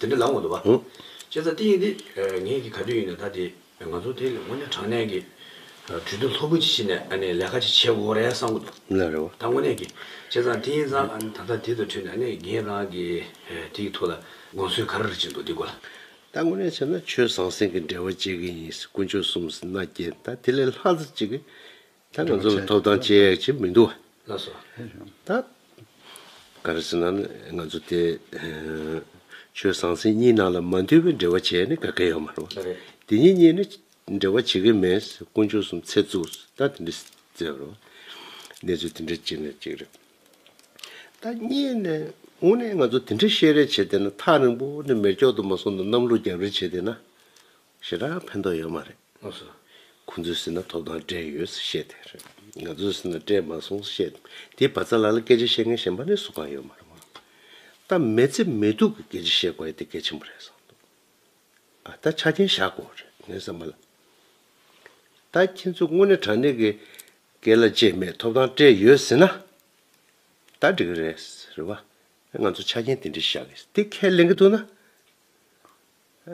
དེ་འདྲ་ལབ་འོང་འདུག་བ། ཅེས་ཚ་ཏིའི་འདི་ངེད་ཀྱི་ག་དུས་ཡིན་ནས་ད་དེ་ང་ཚོ་དེ་སྔོན་ནས་དྲང་གནས་ཀྱི་གྲོས་བསྡུར་ལྷོད་པོ་ཅིག་བྱེད་ནས་ཨ་ནི་ལས་ཀ་ཅིག་བྱེད་དགོས་རེད་བསམ་གྱི་འདུག་ལ་རེད་བ། ད་དངོས་གནས་ཀྱི་ཅེས་ཚ་ཏིའི་ཚ་ཨ་ནི་ད་ལྟ་དེ་ཚོ་ཁྲོད་ནས་ཨ་ནི་ངེད་རང་གི་དེ་ཡི་ཐུགས་ལ་དགོངས་ཚུལ་ག་རེ་རེ་བྱེད་འདུག་འདི་གོ་ལ། ད་དངོས་གནས་བྱས་ན་ཆོས་ཟང་ཟིང་གི་འབྲེལ་བ་བཅད་ཀྱི་ཡིན་སྲིད་དཀོན་མཆོག་གསུམ་ཟིན་ན་རྒྱལ་ད་དེ་ལས་ལྷག་ཙི་ཅིག་གི། ད་ང་ཚོ་ལ་ཐོབ་ཐང་ཅི་ཡག་ཅིག་མི་འདུག་ད། ག་རེ་ཟེར་ན་ང་ཚོ་དེ་ཆོས་ཟང་ཟིང་གཉིས་ནང་ལ་མ་འདུས་པའི་འབྲེལ་བ་བྱས་ནས་དགའ་མཁན་ཡོད་མ་རེད། དེ་གཉིས་གཉིས་ནི་འབྲེལ་བ་བྱེད་ཀྱི་མེད་དཀོན་མཆོག་གསུམ་ཚེ་བཙུགས་ད་དེ་འདྲི་ཟེར་བ་རེད། གནས་ཚུལ་དེ་འདྲ་གཅིག་ནས་གཅིག་རེད། ད་གཉིས་ནས་དངོས་གནས་ང་ཚོ་དེ་འདྲ་བཤད་རེས་བྱེད་བསྡད་ན་ཐག་རིང་པོ་ནས་མེར་སྐྱོག་དུ་མ་སོང་ན་གནམ་ལོ་རྒྱབ་རེ་བྱེད་བསྡད་ན་ཞེ་དྲག་ཕན་ཐོགས་ཡོད་མ་རེད། ང་སུ། ཁོ་ཚོའི་སེམས་ན་ཐོབ་ཐང་སྤྲད་ཡོད་ཟེར་བཤད་དེ་རེད། ང་ཚོའི་སེམས་ན་སྤྲད་མ་སོང་བཤད་དེ་བ་ཚ་ལ་ལ་སྐད་ཆ་བཤད་མཁན་གཞན་པ་ནས་སུ་གང་ཡོད་མ་རེད་མོད། ད་མེ་ཚེ་མེ་སྡུག་གི་སྐད་ཆ་བཤད་དགོས་ཡོད་དེ་གལ་ཆེན་པོ་རེད་བསམ་འདུག་ཨ་ད་ཆ་རྐྱེན་བཞག་དགོས་བ་རེད་ངའི་བསམ་པ་ལ། ད་ཁྱེད་ཚོས་དངོས་གནས་དྲང་གནས་ཀྱི་སྐད་ལ་བཅད་མེད་ཐོབ་ཐང་སྤྲད་ཡོད་ཟེར་ན། ད་འགྲིག་གི་རེད། རེད་བ། ང་ཚོ་ཆ་རྐྱེན་དེ་འདྲའི་བཞག་གི་དེ་ཁས་ལེན་གི་འདུག་ན།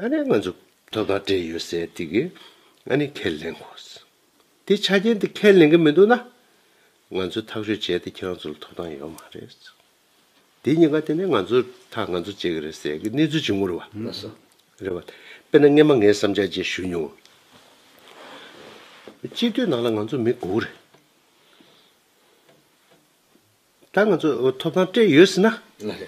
ཨ་ནི་ང་ཚོ་དོ་བདག་འདྲེས་ཡོད་ཟེར་དུས་ཀྱི་ཨ་ནི་ཁས་ལེན་དགོས། དེ་ཆ་རྐྱེན་དེ་ཁས་ལེན་གི་མི་འདུག་ན། ང་ཚོས་ཐག་གཅོད་བྱས་ཏེ་ཁྱེད་རང་ཚོ་ལ་ཐོབ་ཐང་ཡོད་མ་རེད། དེ་གཉིས་ཀ་དེ་ནས་ང་ཚོ་ཐག་ང་ཚོ་བཅད་གི་རེད་ཟེར་གི་གནས་ཚུལ་ཇི་ངུར་བ། རེད་བ། དཔེར་ན་སྔས་མ་ངས་བསམ་འཆར་བཅས་ཞུས་མྱོང། སྤྱི་འཐུས་ནང་ལ་ང་ཚོ་མི་དགུ་རེད། ད་ང་ཚོས་ཐོབ་ཐང་སྤྲད་ཡོད་ཟེར་ན། ལ་རེད།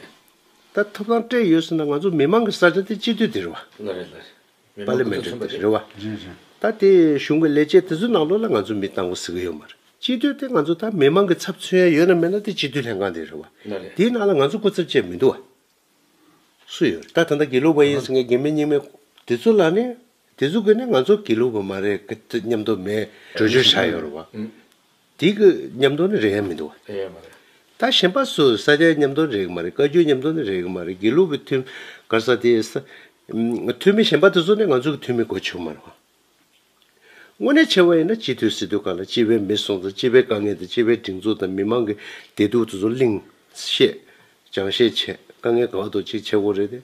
ད་ཐོབ་ཐང་སྤྲད་ཡོད་ཟེར་ན་ང་ཚོ་མི་མང་གི་ས་ཆ་དེ་སྤྱི་འཐུས་དེ་རེད་བ། ལ་རེད་ལ་རེད། མི་མང་གོ་ཚོད་མཚོན་པ་དེ། རེད་བ། རེད་རེད། ད་དེ་གཞུང་གི་ལས་བྱེད་དེ་ཚོའི་ནང་ལོགས་ལ་ང་ཚོ་མི་བཏང་གོ་ཟེར་གི་ཡོད་མ་རེད། སྤྱི་འཐུས་དེ་ང་ཚོ་ད་མི་མང་གི་ཚབ་མཚོན་ཡ་ཡོད་ན་མེད་ན་དེ་སྤྱི་འཐུས་ལྷན་ཁང་དེ་རེད་བ། ལ་རེད། དེའི་ནང་ལ་ང་ཚོ་སྐུ་ཚབ་བཅས་མི་འདུག་བ། སུ་ཡོད་རེད་ད་ད་ལྟ་དགེ་ལུགས་པ་ཡིན་ཟེར་མཁན་དགེ་མེད་རྙིང་མེད་དེ་ཚོ་ལ་ནི། དེ་ཚོ་གིས་ནི་ང་ཚོ་དགེ་ལུགས་པ་མ་རེད་གི་ཏུ་སྙམ་དོགས་མེད་བྲོས་བྱོལ་བཞག་ཡོད་རེད་བ། དེ་གི་ཉམས་མདོ་ནི་རེག་ཡ་མི་འདུག། རེག་ཡ་མ་རེད། ད་གཞན་པ་སུ་ས་སྐྱའི་ཉམས་མདོ་ནི་རེག་གི་མ་རེད་བཀའ་བརྒྱུད་ཉམས་མདོ་ནི་རེག་གི་མ་རེད་དགེ་ལུགས་ཀྱི་ཐུན། གར་ས་དེ་ས། ཐུན་མི་གཞན་པ་དེ་ཚོ་ནི་ང་ཚོ་གི་ཐུན་མི་གོ་ཆོག་མ་རེད། དངོས་གནས་ཕྱེ་བ་ཡིན་ན་སྤྱི་འཐུས་སྲིད་དོན་ཁང་ལ་སྤྱི་བའི་མི་སོང་དང་སྤྱི་བའི་དཀའ་ངལ་དང་སྤྱི་བའི་སྒྲིག་འཛུགས་དང་མི་མང་གི་བདེ་སྡུག་དེ་ཚོ་གླིང། བཤད། སྦྱང་བཤད་བྱས་དཀའ་ངལ་གང་དུ་ཅིག་ཕྱེ་དགོས་རེད་དེ།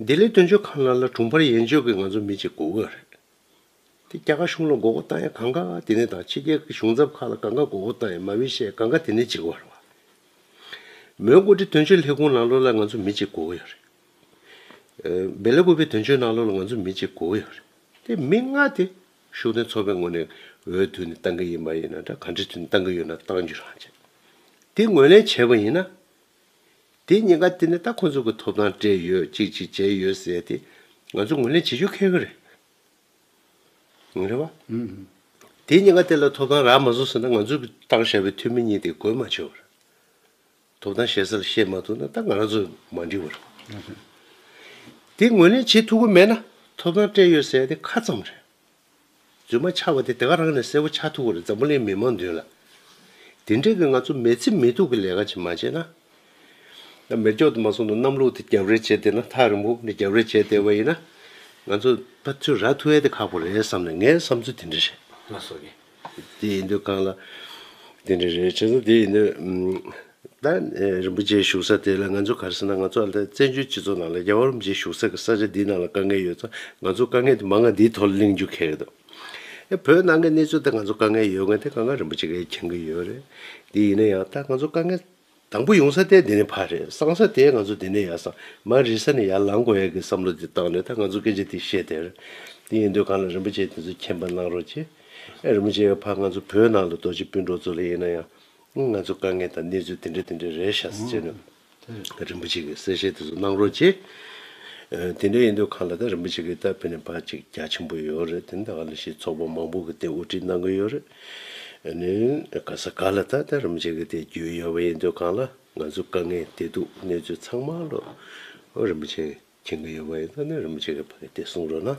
ལྡི་ལི་དོན་གཅོད་ཁང་ལ་ལ་དྲུང་འཕར་ཡན་ཆོད་ཀྱིས་ང་ཚོ་མི་གཅིག་གོ་གི་རེད། དེ་རྒྱ་གར་གཞུང་ལ་འགོག་རྒོལ་བཏང་ཡ་གང་ག་དེ་ནས་དང་ཕྱི་རྒྱལ་གྱི་གཞུང་ཚབ་ཁག་ལ་གང་ག་འགོག་རྒོལ་བཏང་ཡ་མ་བི་ཤས་གང་ག་དེ་ནས་གཅིག་བར་བ། མོན་གོ་ཏི་དོན་གཅོད་ལྷེ་གུང་ནང་ལོག་ལ་ང་ཚོ་མི་གཅིག་གོ་གི་རེད། སྦེ་ལ་གུ་བི་དོན་གཅོད་ནང་ལོག་ལ་ང་ཚོ་མི་གཅིག་གོ་གི་རེད། དེ་མི་ལྔ་དེ་ཤུགས་ལྡན་ཚོགས་པའི་ངོ་ནས་འོས་བསྡུ་ནས་བཏང་གི་ཡིན་མ་ཡིན་ན་འདྲ་ག་འདྲི་བསྡུ་ནས་བཏང་གི་ཡོད་ན་བཏང་རྒྱུ་རང་བྱེད། དེ་ངོས་ལེན་བྱས་པ་ཡིན་ན། དེའི་ཉེན་ཁ་དེ་ནི་ད་ཁོ་ཚོ་གི་ཐོབ་ཐང་སྤྲད་ཡོད་ཅིག་ཅིག་བྱས་ཡོད་ཟེར་ཏེ་ང་ཚོ་ངོས་ལེན་བྱེད་ཆོག་ཁེལ་གི་རེད། ངོ་རེ་བ། དེའི་ཉེན་ཁ་དེ་ལ་ཐོབ་ཐང་རག་མ་བཟོ་ཟེར་ན་ང་ཚོ་གི་བཏང་བཞག་པའི་འཐུས་མི་གཉིས་དེ་དགོས་མ་ཆོག་གི་རེད། ཐོབ་ཐང་བཤད་ས་ལ་བཤད་མ་ཐུབ་ན་ད་ང་རང་ཚོ་མ་འགྲིག་བ་རེད། དེ་ངོས་ལེན་བྱེད་ཐུབ་གི་མེད་ན་ཐོབ་ཐང་སྤྲད་ཡོད་ཟེར་ཏེ་ཁ་ཙམ་རེད། རྫུན་མ་ཆགས་པ་དེ་དེ་ག་རང་ནས་གསལ་བོ་ཆགས་ཐུབ་བར་འཛམ་བུ་གླིང་མི་མང་མདུན་ལ། དེ་འདྲའི་གི་ང་ཚོ་མེས་ཚིག་མེས་དུག་གི་ལས་ཀ་ཅིག་མ་བྱས་ན། ད་མེ་སྒྱོགས་དུ་མ་སོང་དུ་གནམ་ལོག་དུ་རྒྱབ་རེ་བྱས་བསྡད་ན་ཐག་རིང་པོ་ནས་རྒྱབ་རེ་བྱས་བསྡད་པ་ཡིན་ན། ང་ཚོ་ད་ཚོད་ར་ཐུ་ཨེ་དེ་ཁག་པོ་རེད་བསམ་ནས་ངའི་བསམ་ཚུལ་དེ་འདྲ་ཞིག་ལ་སོང་ངེས། དེ་ཡིན་དུས་གང་ལ། དེ་འདྲ་རེད་བྱས་ན་དེ་ཡིན་དུས། ད་རིན་པོ་ཆེའི་བཞུགས་ས་དེ་ལ་ང་ཚོ་གར་སོང་ན་ང་ཚོ་ཨ་མདའི་བཙན་བྱོལ་སྤྱི་ཚོགས་ནང་ལ་རྒྱ་བ་རིན་པོ་ཆེའི་བཞུགས་ས་གི་ས་ཆ་འདིའི་ནང་ལ་དཀའ་ངལ་ཡོད་ཙང་ང་ཚོ་དཀའ་ངལ་དེ་མ་ང་འདིའི་ཐོག་ལ་གླེང་རྒྱུ་ཁེག་རེད་དོ། ཡ་བོད་ནང་གི་གནས་ཚུལ་དེ་ང་ཚོ་དཀའ་ངལ་ཡོད་ངེས་དེ་གང་ག་རིན་པོ་ཆེ་གས་མཁྱེན་གི་ཡོད་རེད། དེ་ཡིན་ན་ཡང་ད་ང་ཚོ་དཀའ་ངལ། དང་པོ་ཡོང་ས་ལྟས་འདི་ནས་ཕར་རེད་སང་ས་དེས་ང་ཚོ་འདི་ནས་ཡར་སང་མར་རིས་ས་ནས་ཡར་ལང་དགོས་ཡ་གི་བསམ་བློ་དེ་བཏང་ནས་ད་ང་ཚོ་སྐད་ཆ་དེ་བཤད་དེར། དེ་ཡིན་དུས་གང་ལ་རིན་པོ་ཆེ་དེ་ཚོ་མཁྱེན་པ་གནང་རོགས་གྱིས། ཨེ་རིན་པོ་ཆེ་ཡ་ཕ་ང་ཚོ་བོད་ནང་ལ་རྡོ་རྗེ་སྤུན་གྲོགས་ཚོ་ལ་ཡིན་ན་ཡང། ང་ཚོ་དཀའ་ངལ་དང་གནས་ཚུལ་དེ་འདྲ་དེ་འདྲ་རེད་ཤག་ཟེར་ནས། རིན་པོ་ཆེ་གིས་གསལ་བཤད་དེ་ཚོ་གནང་རོགས་གྱིས། དེ་འདྲ་ཡིན་དུས་གང་ལ་ད་རིན་པོ་ཆེ་གིས་ད་བོད་ནས་ཕར་ཅིག་རྒྱ་ཆེན་པོ་ཡོད་རེད་དེ་ནི་ད་ག་ལ་ཤེས་ཚོགས་པ་མང་པོ་གི་སྟེང་དབུ་ཁྲིད་གནང་གི་ཡོད་རེད། ནི། ག་ས་ག་ལ་ད་ལྟ་རུ་འབྱེད་གི་དེ་རྒྱུས་ཡོད་པ་ཡིན་དུས་གང་ལ་ང་ཚོ་དཀའ་ངལ་དེ་འདུག་གནས་ཚུལ་ཚང་མ་ལོ་རིམ་བཞིན་མཁྱེན་གི་ཡོད་པ་ཡིན་དུས་ནི་རིམ་བྱེད་གི་བར་གི་དེ་གསུང་རོགས་གནང།